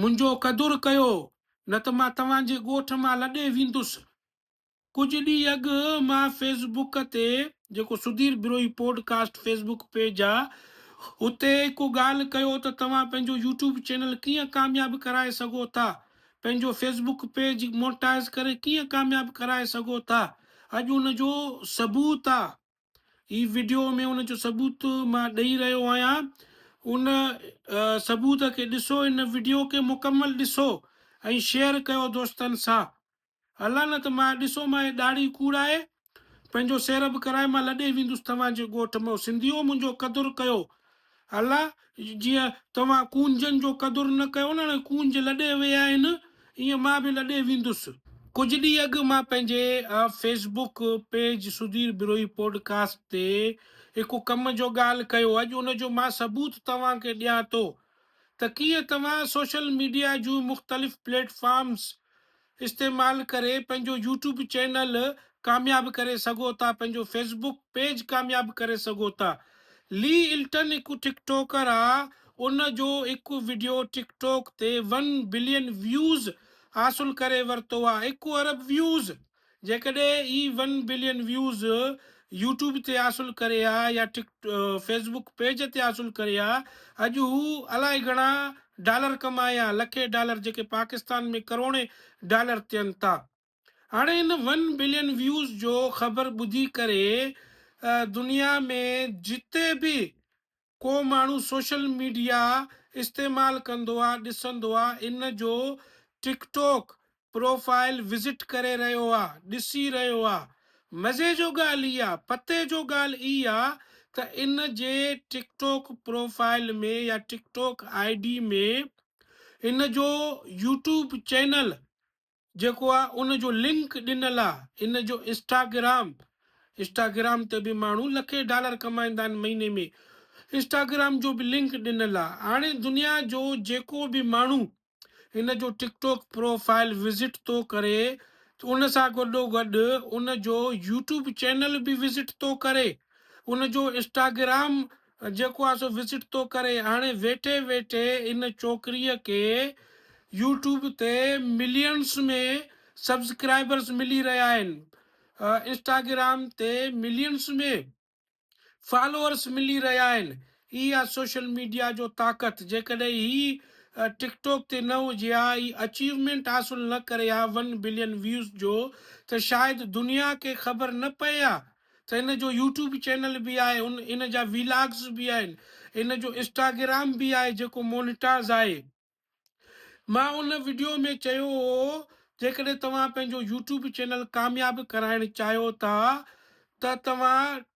منهنجو قدر ڪيو، نه ته مان توهان جي ڳوٺ مان لڏي ويندس. ڪجهه ڏينهن اڳ مان فيس بوڪ تي، جيڪو Sudhir Brohi podcast Facebook page آ، اتي ڪو ڳالهه ڪيو ته توهان پنهنجو يوٽيوب چينل ڪيئن ڪامياب ڪرائي سگهو ٿا، پنهنجو فيس بوڪ پيج مونٽائز ڪري ڪيئن ڪامياب ڪرائي سگهو ٿا، اڄ ان جو ثبوت آ. هي وڊيو ۾ ان جو ثبوت مان ڏئي رهيو آهيان ان ثبوت کي ڏسو ان وڊيو کي مڪمل ڏسو ۽ شيئر ڪيو دوستن سان الله نه ته مان ڏسو مان هي ڏاڙهي ڪوڙائي پنهنجو سيرب ڪرائي مان لڏي ويندس توهان جي ڳوٺ مان سنڌيو منهنجو قدر ڪيو الا جيء توهان ڪونجن جو قدر نه ڪيو نه هاڻي ڪونج لڏي ويا آهن ايئن مان به لڏي ويندس. ڪجهه ڏينهن اڳ مان پنهنجي Facebook page Sudhir Brohi podcast تي هڪ ڪم جو ڳالهه ڪيو اڄ ان جو مان ثبوت توهان کي ڏيان ٿو ته ڪيئن توهان سوشل ميڊيا جون مختلف پليٽ فارمز استعمال ڪري پنهنجو يوٽيوب چينل ڪامياب ڪري سگهو ٿا پنهنجو فيس بڪ پيج ڪامياب ڪري سگهو ٿا لي الٽن هڪ ٽڪ ٽوڪر آ ان جو هڪ وڊيو ٽڪ ٽوڪ تي ون بلين ويوز حاصل ڪري ورتو آ هڪ ارب ويوز جيڪڏهن هي ون بلين ويوز يوٽيوب تي حاصل ڪري ها يا ٽڪ فيسبوڪ پيج تي حاصل ڪري ها اڄ هو الائي گهڻا ڊالر ڪمائي ها لکين ڊالر جيڪي پاڪستان ۾ ڪروڙين ڊالر ٿين ٿا هاڻي هن ون بلين ويوز جو خبر ٻڌي ڪري دنيا ۾ جتي به ڪو ماڻهو سوشل ميڊيا استعمال ڪندو آ ڏسندو آ ان جو ٽڪ ٽوڪ پروفائل وزٽ ڪري رهيو آ ڏسي رهيو آ مزي جو ڳالهه هي آ پتي جو ڳالهه اي آ ته ان جي ٽڪ ٽوڪ پروفائل ۾ يا ٽڪ ٽوڪ آئي ڊي ۾ ان جو يوٽيوب چينل جيڪو آ ان جو لنڪ ڏنل آ هن جو انسٽاگرام انسٽاگرام تي به ماڻهو لکين ڊالر ڪمائيندا آهن مهيني ۾ انسٽاگرام جو به لنڪ ڏنل آ هاڻي دنيا جو جيڪو به ماڻهو هن جو TikTok profile visit ٿو ڪري ته ان سان گڏو گڏ ان جو يوٽيوب چينل به وزٽ ٿو ڪري ان جو انسٽاگرام جيڪو آ سو وزٽ ٿو ڪري هاڻي ويٺي ويٺي ان ڇوڪري کي يوٽيوب تي ملينس ۾ سبسڪرائبرس ملي رهيا آهن انسٽاگرام تي ملينس ۾ فالورس ملي رهيا آهن هي آ سوشل ميڊيا جو طاقت جيڪڏهن هي ٽڪ ٽاڪ تي نه هجي ها هي اچيومينٽ حاصل نه ڪري ها ون بلين ويوز جو ته شايد دنيا کي خبر نه پئي ها ته ان جو يوٽيوب چينل به آهي ان ان جا ويلاگز به آهن ان جو انسٽاگرام به آهي جيڪو مونيٽاز آهي مان ان ويڊيو ۾ چيو هو جيڪڏهن توهان پنهنجو يوٽيوب چينل ڪامياب ڪرائڻ چاهيو ٿا ته توهان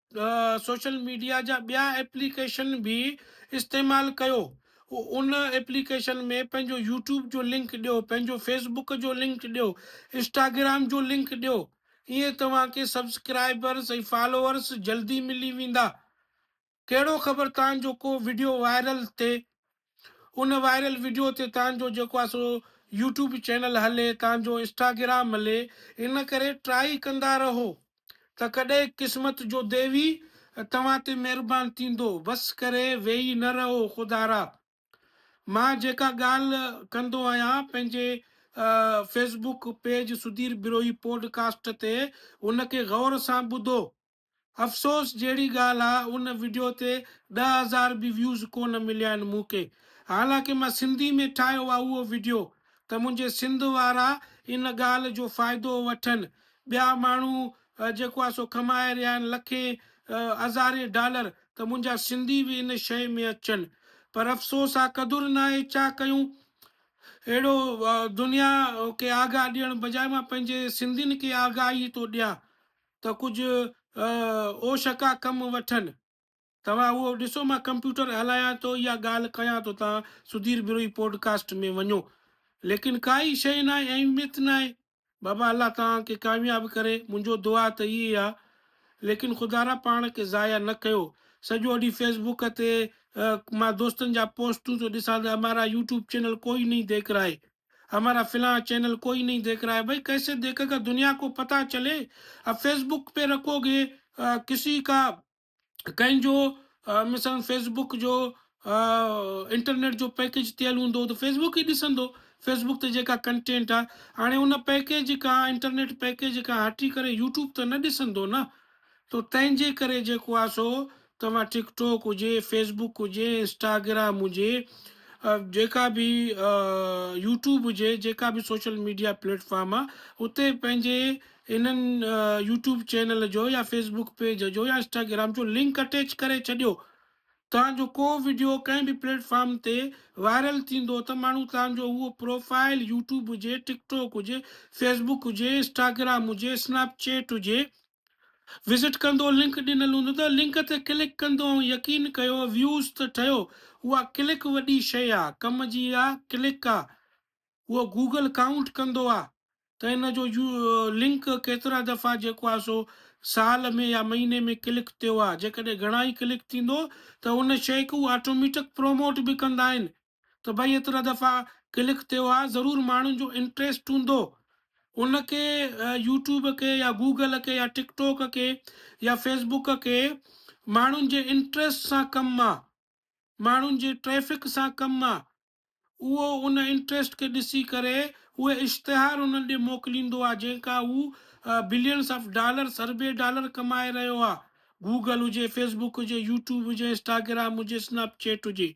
سوشل ميڊيا جا ٻيا ايپليڪيشن به استعمال ڪيو ان ايپليڪيشن ۾ پنهنجو يوٽيوب جو لنڪ ڏيو پنهنجو فيسبوڪ جو لنڪ ڏيو انسٽاگرام جو لنڪ ڏيو ايئن توهان کي سبسڪرائبرز ۽ فالوورز جلدي ملي ويندا. ڪهڙو خبر توهان جو ڪو وڊيو وائرل ٿئي. ان وائرل وڊيو تي توهان جو جيڪو آهي سو يوٽيوب چينل هلي، توهان جو انسٽاگرام هلي. ان ڪري ٽرائي ڪندا رهو ته ڪڏهن قسمت جو ديوي توهان تي مهربان ٿيندو. بس ڪري ويهي نه رهو خدارا. مان جيڪا ڳالهه ڪندو آهيان پنهنجي Facebook page Sudhir Brohi podcast تي ان کي غور سان ٻڌو. افسوس جهڙي ڳالهه آ ان وڊيو تي ڏهه هزار به ويوز ڪونه مليا آهن مون کي حالانڪه مان سنڌي ۾ ٺاهيو آ اهو وڊيو ته منهنجي سنڌ وارا ان ڳالهه جو فائدو وٺن ٻيا ماڻهو جيڪو آ سو ڪمائي رهيا آهن لکين هزارين ڊالر ته منهنجا سنڌي به ان شيء ۾ اچن پر افسوس آ قدر ناهي ڇا ڪيون اهڙو دنيا کي آگاهه ڏيڻ بجاء مان پنهنجي سنڌين کي آگاهي ٿو ڏيان ته ڪجهه اوشڪا ڪم وٺن. توهان اهو ڏسو مان ڪمپيوٽر هلايان ٿو يا ڳالهه ڪيان ٿو تان سڌير بروهي پوڊڪاسٽ ۾ وڃو ليڪن ڪا ئي شيء ناهي اهميت ناهي بابا الله توهان کي ڪامياب ڪري منهنجو دعا ته اهي آ ليڪن خدارا پاڻ کي ضايع نه ڪيو سڄو ڏينهن فيسبوڪ تي مان دوستن جا پوسٽون ٿو ڏسان ته همارا يوٽيوب چينل ڪوئي نهي ديک رائي همارا فلان چينل ڪوئي نهي ديک رائي بھي ڪيسي ديکه گا دنيا ڪو پتا چلي اب فيسبوڪ پي رکو گي ڪسي ڪا ڪنهن جو مثلاً فيس بوڪ جو انٽرنيٽ جو پيڪيج ٿيل هوندو ته فيس بوڪ ئي ڏسندو فيس بوڪ تي جيڪا ڪنٽينٽ آ هاڻي ان پيڪيج کان انٽرنيٽ پيڪيج کان هٽي ڪري يوٽيوب ته نه ڏسندو نه تو تنهن جي ڪري جيڪو آ سو توهان ٽڪ ٽاڪ هجي فيس بوڪ هجي انسٽاگرام هجي جيڪا به يوٽيوب هجي جيڪا به سوشل ميڊيا پليٽفارم آ اتي پنهنجي انهن يوٽيوب چينل جو يا فيس بوڪ پيج جو يا انسٽاگرام جو لنڪ اٽيچ ڪري ڇڏيو تان جو ڪو وڊيو ڪنهن به پليٽ فارم تي وائرل ٿيندو ته ماڻهو تان جو اهو پروفائل يوٽيوب هجي ٽڪ ٽوڪ هجي فيس بوڪ هجي انسٽاگرام هجي اسنيپ چيٽ هجي وزٽ ڪندو لنڪ ڏنل هوندو ته لنڪ تي ڪلڪ ڪندو ۽ يقين ڪيو ويوز ته ٺهيو اها ڪلڪ وڏي شيء آ ڪم جي آ ڪلڪ آ اهو گوگل ڪائونٽ ڪندو آ ته ان جو يو لنڪ ڪيترا دفعا جيڪو آ سو سال ۾ يا مهيني ۾ ڪلڪ ٿيو آ جيڪڏهن گهڻا ئي ڪلڪ ٿيندو ته ان شئي کي هو آٽوميٽڪ پروموٽ به ڪندا آهن ته ڀئي ايترا دفعا ڪلڪ ٿيو آ ضرور ماڻهن جو انٽريسٽ هوندو ان کي يوٽيوب کي يا گوگل کي يا ٽڪ ٽوڪ کي يا فيس بوڪ کي ماڻهن جي انٽريسٽ سان ڪم آ ماڻهن جي ٽريفڪ سان ڪم آ اهو ان انٽريسٽ کي ڏسي ڪري اهي اشتهار انهن ڏي موڪليندو آهي جنهن کان هو بلينس آف ڊالرس اربين ڊالر ڪمائي رهيو آهي گوگل هجي فيس بوڪ هجي يوٽيوب هجي انسٽاگرام هجي اسنيپ چيٽ هجي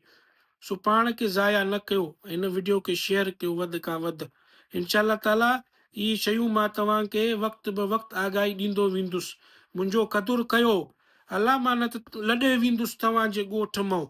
سو پاڻ کي ضايع نه ڪيو هن وڊيو کي شيئر ڪيو وڌ کان وڌ انشاء الله تعالي اهي شيون مان توهان کي وقت به وقت آگاهي ڏيندو ويندس منهنجو قدر ڪيو الله مان نه ته لڏي ويندس توهان جي ڳوٺ مئو